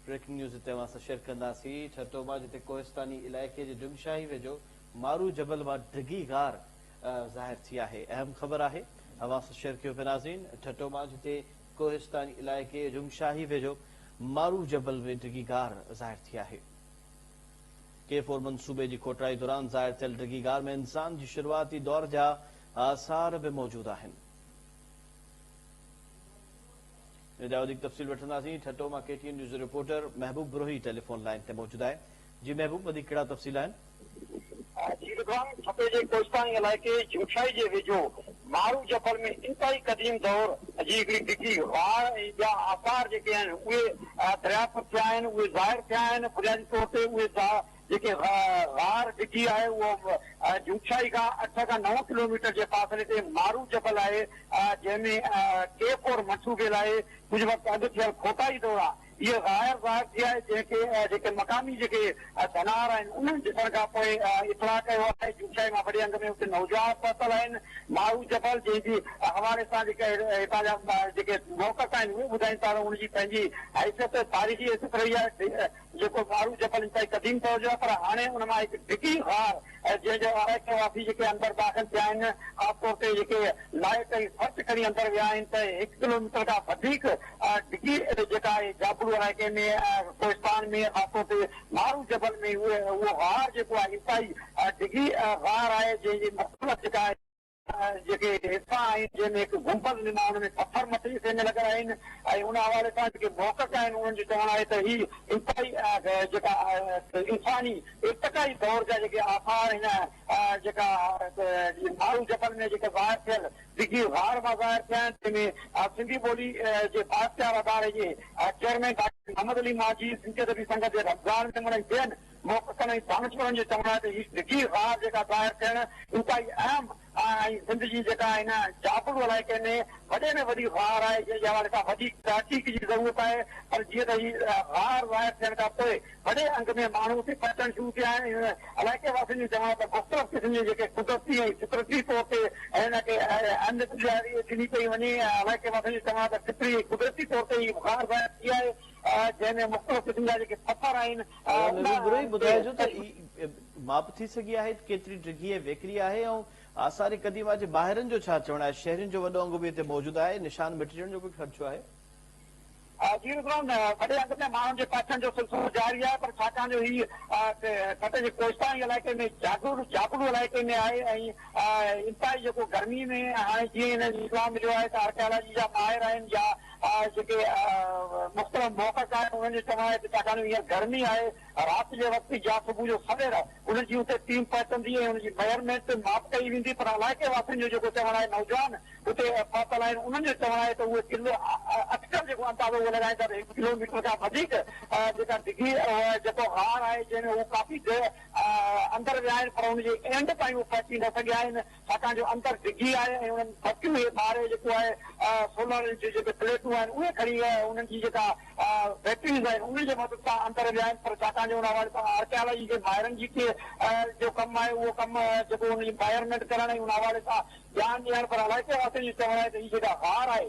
Breaking news هتي اوهان سان شيئر ڪنداسين ٺٽو مان جتي ڪوهستاني علائقي جي ڊم شاهي ويجهو مارو جبل مان ڊگهي غار ظاهر ٿي آهي اهم خبر آهي اوهان سان شيئر ڪيو پي ناظرين ٺٽو مان جتي ڪوهستاني علائقي ڊم شاهي ويجهو مارو جبل ۾ ڊگهي غار ظاهر ٿي آهي ڪي فور منصوبي جي کوٽرائي دوران ظاهر ٿيل ڊگهي غار ۾ انسان جي شروعاتي دور جا آثار به موجود آهن ان جا وڌيڪ تفصيل وٺنداسين ٺٽو مان ڪي ٽي اين نيوز جو reporter Mehboob Brohi telephone line تي موجود آهي جي محبوب وڌيڪ ڪهڙا تفصيل آهن؟ جي رضوان ٺٽي جي ڪوهستاني علائقي جوٺيائي جي ويجهو مارو جبل ۾ انتهائي قديم دور جي هڪڙي ڊگهي واهه ۽ ٻيا آثار جيڪي آهن اهي دريافت ٿيا آهن اهي ظاهر ٿيا آهن بنيادي طور تي اهي جيڪي غار ڊگهي آهي اهو جوتشاهي کان اٺ کان نو ڪلوميٽر جي فاصلي تي مارو جبل آهي جنهن ۾ ڪي ڪور مٺو ڀيل آهي ڪجهه وقت اڳ ٿيل کوٽائي دوران هيء غار ظاهر ٿي آهي جنهن کي جيڪي مقامي جيڪي ڌنار آهن انهن ڏسڻ کان پوء اطلاع ڪيو آهي جوتشاهي مان وڏي انگ ۾ اتي نوجوان پهتل آهن مارو جبل جنهن جي حوالي سان جيڪي هتان جا جيڪي موقف آهن اهي ٻڌائين ٿا ته ان جي پنهنجي حيثيت تاريخي حيثيت رهي آهي جيڪو ڳاڙهو جبل انتهائي قديم دور جو آهي پر هاڻي ان مان هڪ ڊگهي غار ۽ جنهن جي آرائتي واسي جيڪي اندر داخل ٿيا آهن خاص طور تي جيڪي لائيٽ ۽ سرچ کڻي اندر ويا آهن ته هڪ ڪلو ميٽر کان وڌيڪ ڊگهي جيڪا آهي جابلو علائقي ۾ ڪوهستان ۾ خاص طور تي مارو جبل ۾ اهو غار جيڪو آهي انتهائي ڊگهي غار آهي جنهن جي مختلف جيڪا آهي جيڪي حصا آهن جنهن ۾ هڪ گنبذ نما ان ۾ پٿر مٿري حصي ۾ لڳل آهن ۽ ان حوالي سان جيڪي محقق آهن انهن جو چوڻ آهي ته هي انتهائي جيڪا انساني ارتقائي دور جا جيڪي آثار هن جيڪا مارو جبل ۾ جيڪا ظاهر ٿيل ڊگهي غار مان ظاهر ٿيا آهن تنهن ۾ سنڌي ٻولي جي بااختيار اداري جي چيئرمين ڊاڪٽر محمد علي مانجهي سنڌي ادبي سنگت جي رمضان ميمڻ ۽ ٻين محققن ۽ دانشورن جي چوڻ آهي ته هي ڊگهي غار جيڪا ظاهر ٿيڻ انتهائي اهم ۽ سنڌ جي جيڪا هن جابلو علائقي ۾ وڏي ۾ وڏي غار آهي جنهن جي حوالي سان وڌيڪ تحقيق جي ضرورت آهي پر جيئن ته هي غار ظاهر ٿيڻ کان پوء وڏي انگ ۾ ماڻهو اتي پهچڻ شروع ٿيا آهن ۽ علائقي واسين جو چوڻ آهي ته مختلف قسم جي جيڪي قدرتي ۽ فطرتي طور تي هن کي اهميت ڏياري ڏني پئي وڃي علائقي واسين جو چوڻ آهي ته فطري ۽ قدرتي طور تي هي غار ظاهر ٿي آهي جنهن ۾ مختلف قسم جا جيڪي پٿر آهن ادا مي روبروئي ٻڌاء جو ته ئي ماپ ٿي سگهي آهي ته ڪيتري ڊگهي ۽ ويڪري آهي ۽ آثار قديمه جي ماهرن جو ڇا چوڻ آهي شهرين جو وڏو انگ به اتي موجود آهي نشان مٽجڻ جو به خدشو آهي. جي روبروئن وڏي انگ ۾ ماڻهن جي پهچڻ جو سلسلو جاري آهي پر ڇاڪاڻ جو هي ٺٽي جي ڪوستائي علائقي ۾ جابلو جابلو علائقي ۾ آهي ۽ انتهائي جيڪو گرمي ۾ هاڻي جيئن هنن اطلاع مليو آهي ته آرڪيالاجي جا ماهر آهن يا جيڪي مختلف موقف آهن انهن جو چوڻ آهي ته ڇاڪاڻ جو هينئر گرمي آهي رات جي وقت به يا صبح جو سوير انهن جي اتي ٽيم پهچندي ۽ انهن جي ميئرمينٽ به ماپ ڪئي ويندي پر علائقي واسين جو جيڪو چوڻ آهي نوجوان اتي پهتل آهن انهن جو چوڻ آهي ته اهي ڪلو اڪثر جيڪو اندازو اهو لڳائيندا ته هڪ ڪلوميٽر کان وڌيڪ جيڪا ڊگهي جيڪو غار آهي جنهن ۾ هو ڪافي دير اندر ويا آهن پر ان جي اينڊ تائين اهي پهچي نه سگهيا آهن ڇاڪاڻ جو اندر ڊگهي آهي ۽ انهن ڀٽيون هي ٻاهرئين جيڪو آهي سولر جون جيڪي پليٽون آهن اهي کڻي انهن جي جيڪا بيٽريز آهن انهن جي مدد سان اندر ويائين پر ڇاڪاڻ جو ان حوالي سان آرڪيالاجي جي ماهرن جي ڪي جو ڪم آهي اهو ڪم جيڪو انهن جي ميئرمينٽ ڪرڻ ۽ ان حوالي سان ڄاڻ ڏيڻ پر الائي ڪنهن واسطي جي چوڻ آهي ته هي جيڪا غار آهي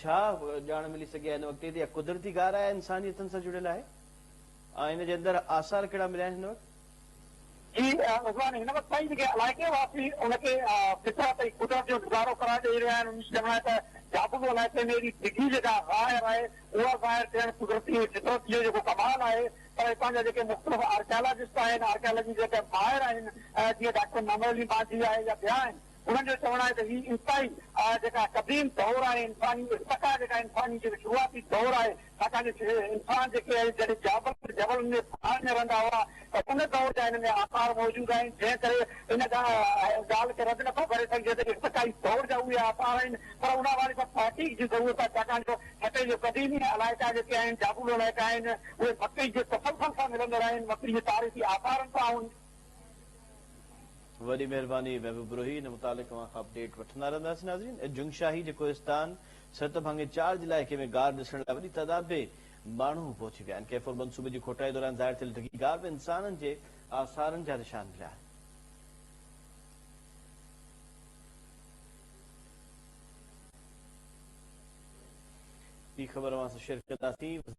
ڇا ڄاڻ ملي سگهي آهي هن وقت تائين ته اها قدرتي غار آهي يا انسان جي هٿن سان جڙيل آهي ۽ ان جي اندر آثار ڪهڙا مليا آهن هن وقت؟ جي رضوان هن وقت تائين جيڪي علائقي واسي ان کي فطرت ۽ قدرت جو نظارو قرار ڏئي رهيا آهن انهن جي چوڻ آهي ته جابلو علائقي ۾ اهڙي ڊگهي جيڪا غار آهي اها ظاهر ٿيڻ قدرتي ۽ فطرت جو جيڪو ڪمال آهي پر هتان جا جيڪي مختلف آرڪيالاجسٽ آهن آرڪيالاجي جا جيڪي ماهر آهن جيئن ڊاڪٽر محمد علي مانجهي آهي يا ٻيا آهن انهن جو چوڻ آهي ته هي انتهائي جيڪا قديم دور آهي انساني ارتقا جيڪا انساني جيڪو شروعاتي دور آهي ڇاڪاڻ جو انسان جيڪي آهي جڏهن جابل ۽ جبلن ۾ پهاڙن ۾ رهندا هئا ته ان دور جا هن ۾ آثار موجود آهن جنهن ڪري ان ڳالهه کي رد نٿو ڪري سگهجي ته ارتقائي دور جا اهي آثار آهن پر ان حوالي سان تحقيق جي ضرورت آهي ڇاڪاڻ جو هتي جي قديمي علائقا جيڪي آهن جابلو علائقا آهن اهي مڪي جي تسلسل سان ملندڙ آهن مڪي جي تاريخي آثارن سان وڏي مهرباني محبوب بروهي ان متعلق اوهان کان اپڊيٽ وٺندا رهنداسين ناظرين اڄ جنگ شاهي جي ڪوهستان سرت ڀاڱي چار جي علائقي ۾ غار ڏسڻ لاء وڏي تعداد ۾ ماڻهو پهچي ويا آهن ڪيفور منصوبي جي کوٽائي دوران ظاهر ٿيل ڊگهي غار ۾ انسانن جي آثارن جا نشان مليا آهن ٻي خبر اوهان سان شيئر ڪنداسين